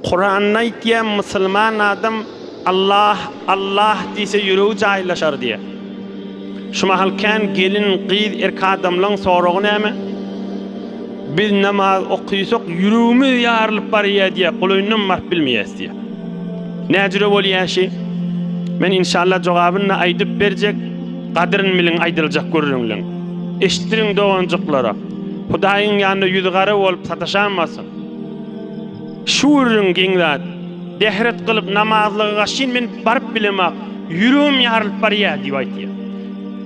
Kuranda aýtýa musulman adam Allah Allah diýse ýüregi jaýlaşar diýe. Şu mahal kän gelin gyz erki adamlaň soragy näme? Biz namaz okysak ýüregimiz ýarylyp barýa diýe golaýyndan baryp bilmeýäs diýe. Näjüre bolýa şi? Men inşallah jogabyny aýdyp berjek gadyryn biliň aýdyljak gürrüňleň. Eşitdiriň doganjyklara. Hudaýyň ýanynda ýüz gara bolup sataşanmasyn. Şu gürrüň geň zat. Bähret gylyp, namazlyga gaçyn men baryp bilemok, ýüregim ýarylyp barýar diýip aýtýar.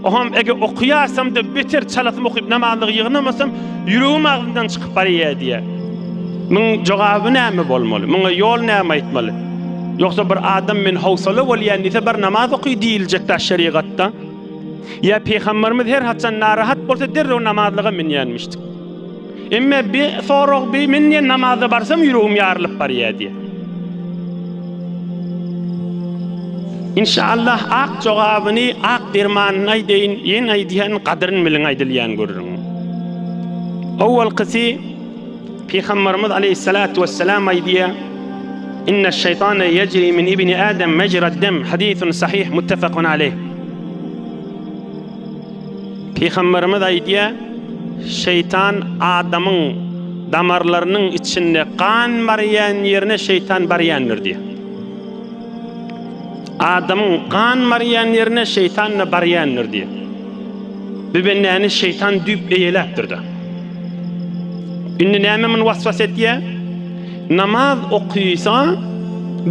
Oňam eger okaýarsam-da beter çalasym okyp namazlyga ýygnamasam, ýüregim agzymdan çykyp barýar diýýär. Muň jogaby näme bolmaly? Muňa ýol näme aýtmaly? Ýogsa bir adam men howsala bolýan diýse bar namaz oky diýiljekdä şerigatda? Ýa pygamberimiz her haçan narahat bolsa derrew namazlyga münýänmişdik. Emme bir sorag bir men diýen namaza barsam ýüregim ýarylyp barýar diýe. İnşallah ak jogabyny ak dermanyny aýdaýyn ýen aýdýan gadyryn biliň aýdylýan görüň. Owalkysy Pygambarymyz aleyhissalatu vesselam aýdýar İnne şeytane yecri min ibni Adem mecrad dem hadisun sahih muttefakun aleyh. Pygamberimiz aýdýar, Şeýtan adamyň damarlarynyň içinde gan barýan ýerine şeýtan barýandyr diýýär. Adamyň gan barýan ýerine şeýtan-da barýandyr diýýär. Bu bendäni şeýtan düýp eýeläpdir-de. Indi näme muny waswas etýär? Namaz okysa,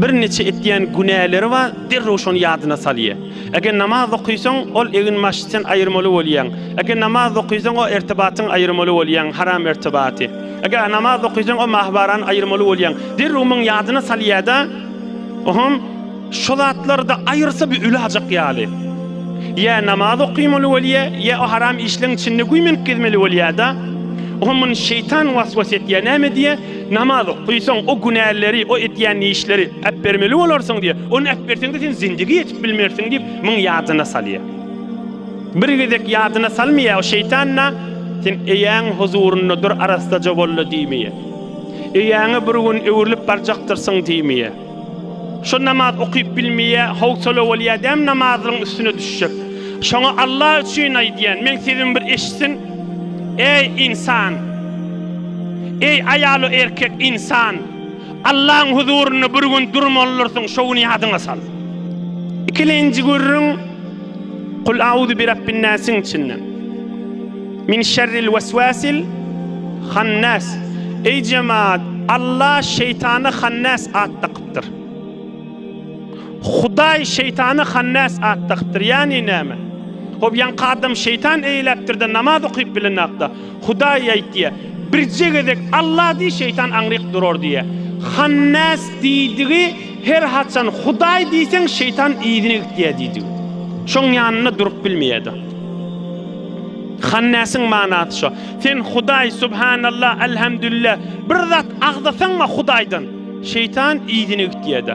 birniçe etýän günäleri bar, derrew şony ýadyna salýar. Eger namaz okaýsaň, ol eginbaşydan aýyrmaly bolýaň. Eger namaz okaýsaň, o ertibatdan aýyrmaly bolýaň, haram ertibaty. Eger namaz okaýsaň, o mahbarany aýyrmaly bolýaň. Derrew muňa ýadyna salýar-da, Ohom, şo zatlary-da aýyrsa bir ölajak ýaly. Ýa namaz okaýmaly bolýar, ýa o haram işleriň içinde güýmenip gezmeli bolýar-da. Ohom muny şeýtan waswas etýär. Näme diýýär? Namaz okaýsaň, o günäleri, o edýän işleri, Äbermeli bolarsyň diýýär. Ony äberseň-de sen zindigi ýetip bilmersiň diýip, muny ýadyna salýar. Bir gezek ýadyna salmaýar, şeýtan-da, Sen eýäň huzurynda dur, arassaja bol-la diýmeýär. Eýäňe bir gün öwrülip barjakdyrsyň diýmeýär. Şo namaz okyp bilmeýär, howsala bolýar däm namazlaryň üstüne düşjek. Şoňa Alla üçin aýdýan, meň sözümi bir eşitsin, Eý, ynsan! Eý, aýal we erkek, ynsan! Allaň huzurynda bir gün durmalydyrsyň, şo güni ýadyňa sal. Ikilenji gürrüň Kul auzu bi Rabbin-nasiň içinden. Min şerril weswesil hannas. Eý jemagat, Alla şeýtana hannas at dakypdyr. Hudaý şeýtana hannas at dakypdyr. Ýagny näme? Hop, ýaňky adam şeýtan eýläpdir-de, namaz okyp bilenok-da. Hudaý aýt diýýär. Birje gezek Alla diý, şeýtan aňryk durar diýýär. Hannas diýdigi her haçan Hudaý diýseň şeýtan yzyna gitýär diýdigi. Şoň ýanynda durup bilmeýärdi. Hannasyň manasy şo. Sen Hudaý subhanallah elhamdülillah bir zat agzasaňma Hudaýdan şeýtan yzyna gitýärdi.